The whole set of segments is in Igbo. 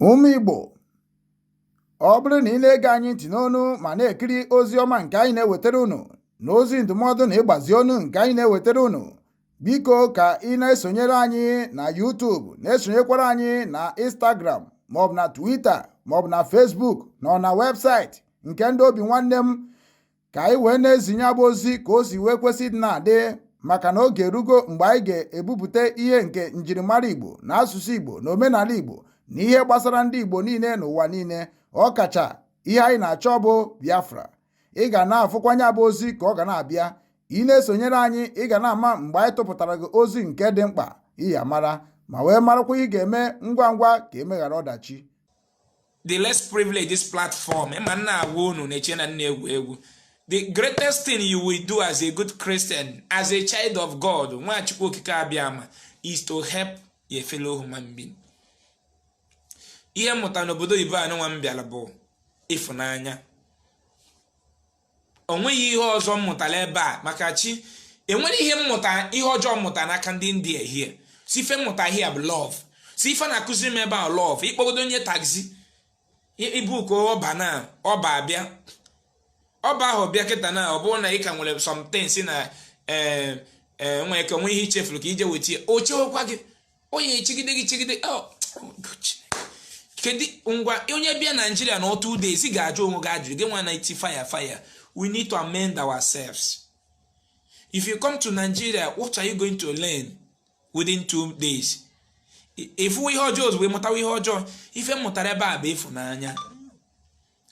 Ụmụ Igbo ọ bụrụ na ị na-ege anyị ntị n'onu ma na-ekiri ozi ọma nke anyị na-ewetara unu na ozi ndụmọdụ na ịgbazi ọnụ nke anyị na-ewetara unu biko ka ị na-esonyere anyị na YouTube na-esonyekwara anyị na Instagram maọbụ na Twitter maọbụ na Facebook na ọ na webụsaịtị nke ndị obi nwanne m ka anyị wee na-ezinye a bụ ozi ka o si wee kwesị dị na-adị maka na oge erugo mgbe anyị ga-ebupụta ihe nke njirimara Igbo na asụsụ Igbo na omenala Igbo na ihe gbasara ndị Igbo niile n'ụwa niile ọkacha ihe anyị na-achọ bụ Biafra ị ga na-afụkwanye a bụ ozi ka ọ ga na-abịa ị na-esonyere anyị ị ga na-ama mgbe anyị tụpụtara gị ozi nke dị mkpa ị ya-amara ma wee marakwa ihe ị ga-eme ngwa ngwa ka e meghara ọdachi the less privilege this platform ma m na-agwa unu na-eche na m na-egwu egwu the greatest thing you will do as a good christian as a child of god nwa chukwu okike abịama is to help your fellow human being ihe m mụta n'obodo oyibo anụnwa m bịara bụ ịfụnanya o nweghị ihe ọzọ m mụtara ebe a maka chi enwere ihe m mụta ihe ọjọọ m mụta n'aka ndị india here sọ ife m mụta here bụ love sọ ife na-akụziri m ebe a love ị kpọgodo onye taxi i book uber na uber abịa uber ahụ bịa kịta na ọ bụrụ na ị ka nwere something si na ee eh, eh, nwere ike nwe ihe i chefuru ka i je weta ya o chewekwa gị onye chegide gị chegide oh, kedu ngwa onye bịa nigeria na two days ị ga-ajụ onwe gị ajụjụ gị nwa na-eti fire fire we need to amend ourselves if you come to nigeria what are you going to learn within two days ị fụwa ihe ọjọọ ozugbo ị mụtawa ihe ọjọọ ife m mụtara ebe a bụ ịfụnanya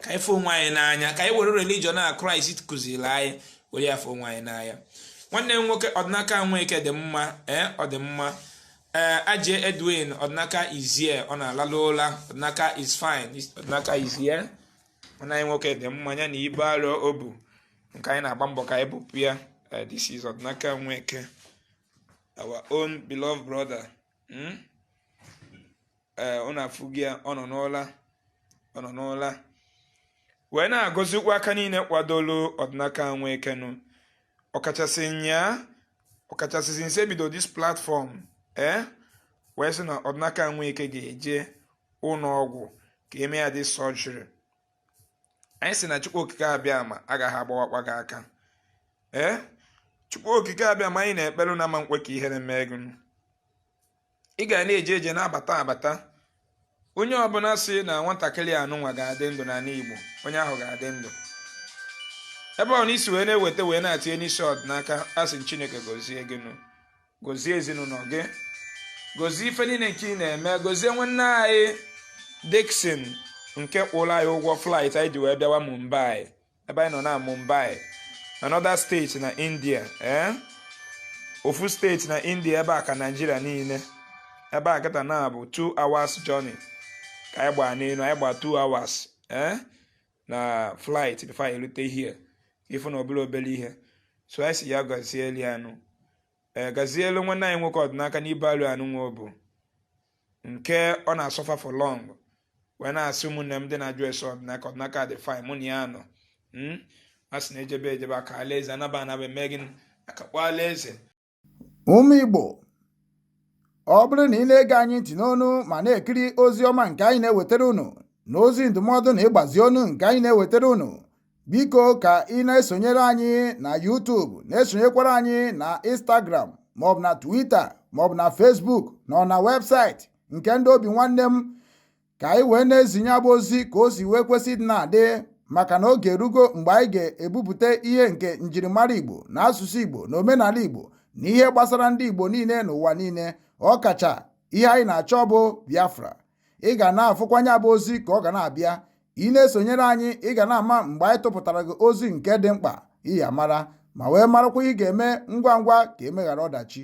ka anyị fụ onwe anyị n'anya ka anyị were religion a christ kụziri anyị were ya fụ onwe anyị n'anya nwanne m nwoke ọdịnaka nweke dị mma ee eh, ọ dị mma ee eh, ajie edwin ọdịnaka is here ọ na-alalụ ụla ọdịnaka is fine ọdịnaka is here nwanne anyị nwoke dị mma ya na ibu arọ o bu nke anyị na-agba mbọ ka anyị bupụ ya eh, this is ọdịnaka nweke our own beloved brother hmm? ee unu afụgo ya ọ nọ n'ụla ọ nọ n'ụla wee na-agọzikwu aka niile kwadolu ọdịnaka nweke nụ ọkachasị nya ọkachasị since e bido this platform ee eh? wee sị na ọdịnaka nweke ga-eje ụlọ ọgwụ ka e mee ya the surgery anyị sị na chukwu okike abịama agaghị agbawakwa gị aka ee chukwu okike abịama anyị na-ekpere na ama nkwe ka ihere mee gị ị ga na-eje eje na-abata abata onye ọbụla sị na nwatakịrị anụnwa ga-adị ndụ n'ala Igbo onye ahụ ga-adị ndụ ebe ọ na i si wee na-eweta wee na-atinye n'isi ọdịnaka a sị Chineke gozie gị nụ gozie ezinụnọ gị gozie ife niine nke ị na-eme gozie nwanne anyị Dixon nke kwụlụ anyị ụgwọ flight anyị ji wee bịawa Mumbai ebe anyị nọ na Mumbai another state na India ee eh? ofu state na India ebe a ka Nigeria niine ebe a kịta na bụ 2 hours journey ka anyị gbaa n'enu anyị gbaa 2 hours ee eh? na flight before anyị elute here ị fụ na ọ bụrọ obele ihe so anyị sị ya gazielu ya nụ ee gazielu nwanne anyị nwoke Ọdịnaka n'ibe alụ a nụnwa bụ nke ọ na-asuffer for long wee na-asị ụmụnne m ndị na-ajụ ese Ọdịnaka Ọdịnaka dị fine mụ na ya nọ hmm? a sị na ejebe ejebe aka alaeze anaba anaba eme gịnị akakpọ alaeze Ụmụ Igbo, ọ bụrụ na ị na-ege anyị ntị n'ọnụ ma na-ekiri ozi ọma nke anyị na-ewetara unu na ozi ndụmọdụ na ịgbazi ọnụ nke anyị na-ewetara unu, biko ka ị na-esonyere anyị na YouTube na-esonyekwara anyị na Instagram maọbụ na Twitter maọbụ na Facebook na na webụsaịtị nke ndị Obinwannem ka anyị wee na-ezinye ya bụ ozi ka o si wee kwesị ịdị na-adị maka na oge erugo mgbe anyị ga-ebupụta ihe nke njirimara Igbo na asụsụ Igbo na omenala Igbo na ihe gbasara ndị Igbo niile n'ụwa niile ọkacha ihe anyị na-achọ bụ Biafra ị ga na-afụkwanụ ya bụ ozi ka ọ ga na-abịa ị na-esonyere anyị ị ga na-ama mgbe anyị tụpụtara gị ozi nke dị mkpa ị ya-amara ma wee marakwa ihe ị ga-eme ngwa ngwa ka e meghara ọdachi